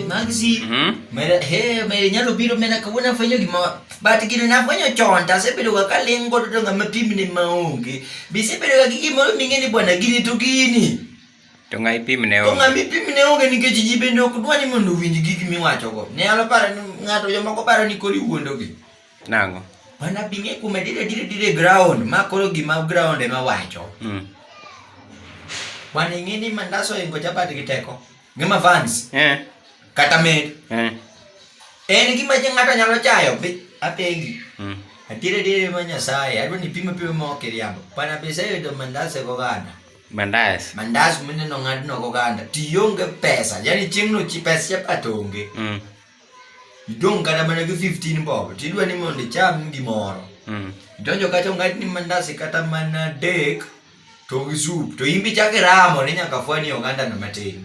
Maxi, hmm? mera he mera nyalo biro mena kawuna fanyo gima but gino na fanyo chonta se biro ka lengo to ngama pim ne maonge. Bi se biro ka gigi moro mingeni bwana gini to gini. To ngai pim ne onge. To ngai pim ne onge nikech ji bende ok dwani mondo winj gigi miwacho go. Ne alo paro ni ngato jomoko paro ni kori wuondo gi. Nang'o? Mana binge kume dire dire dire ground ma koro gima ground ema wacho. Mm. Wan ing'e ni mandaso ingo chapati gi teko. Gima fans. Eh. Kata med. Eh. En gima je ng'ato nyalo chayo bi apengi. Mm. Atire dire ma Nyasaye, adwa ni pimo pimo ma ok iriambo. Pana pesa yudo mandase go ganda. Mandas. Mandas mineno ng'adno go ganda. Tionge pesa, yani chieng'no chi pesa chapati onge. Mm. Idong' kata mana gi 15 bob, tidwa ni mondo icham gimoro. Mm. Idonjo kacha ung'ad ni mandasi kata mana dek, to gi sup, to in be ichako iramo ni nyaka fwani ogandano matin.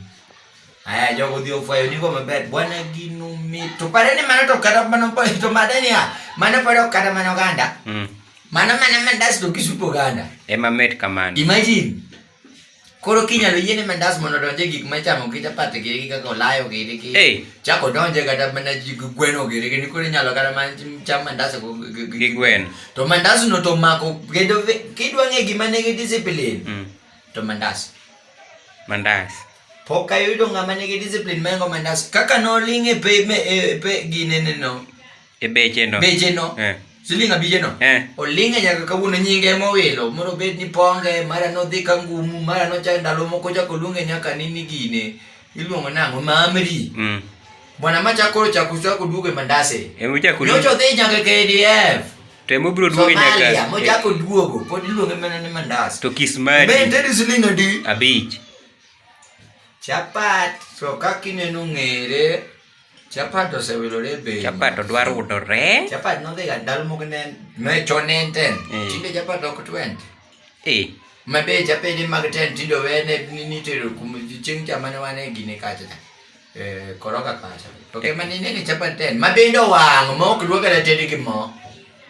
Aya, jogo odhi ofwayo nigo maber, bwana gino mit. To pare ni mano to kata mana to mada niya, mano pod ok kata mana oganda. Mm. Mano mana mandas to gi sup oganda. Ema mit kamano. Imagine. Koro kinyalo yiene mandas mondo donje gik ma chamo gi chapat giri gi kaka olayo giri gi hey. chako donje kata mana gi gweno giri gi koro inyalo kata mana cham mandas gi gwen to mandas no to mako kendo kidwa ng'e gima nigi discipline mm. to mandas mandas pok ayudo ng'ama nigi discipline maengo mandas kaka noling' e pe, e, pe ginene no e becheno becheno eh. siling abijeno eh. oling'e nyaka kawuono nyinge ema owilo mondo obed ni ponge mara nodhi ka ngumu mara nochak ndalo moko chako luonge nyaka nini gine iluongo nang'o mamri mm. bwana ma chako chako chako duogo e mandase nyocha odhi nyaka kdf to ema obiro duogo nyaka mochako duogo pod iluonge mana ni mandase to kismadi ben tedi siling adi abich chapat to kaka ineno ng'ere Chapato se ve lo lebe. Chapato dwaro udo re. Chapato no diga dal mo gnen. Me chonen ten. Eh. Tinde chapato ko twent. Eh. Ma be chape ni mag ten tindo we ne ni ni tero kum ching chama ne wane gine kacha. Eh koroka kacha. To ke mani ne chapato ten. Ma be ndo wang mo kruoga le tedi ki mo.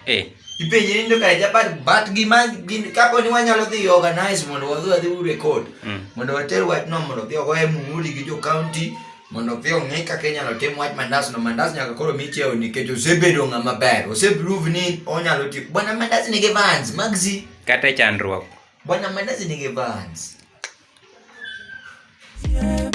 Eh. Ipenje ni ndoka ja but but gima gin kapo ni wanyalo dhi organize mondo wadhi wadhi u record. Mm. Mondo water wach no mondo dhi ogoye muhuri gi jo county mondo dhi ong'e kaka inyalo tim wach mandas no mandas nyaka koro michiew nikech osebedo ng'ama ber. Oseprove ni onyalo timo. Bwana mandas nigi vans magzi. Kata chandruok. Bwana mandas nigi vans. Yeah.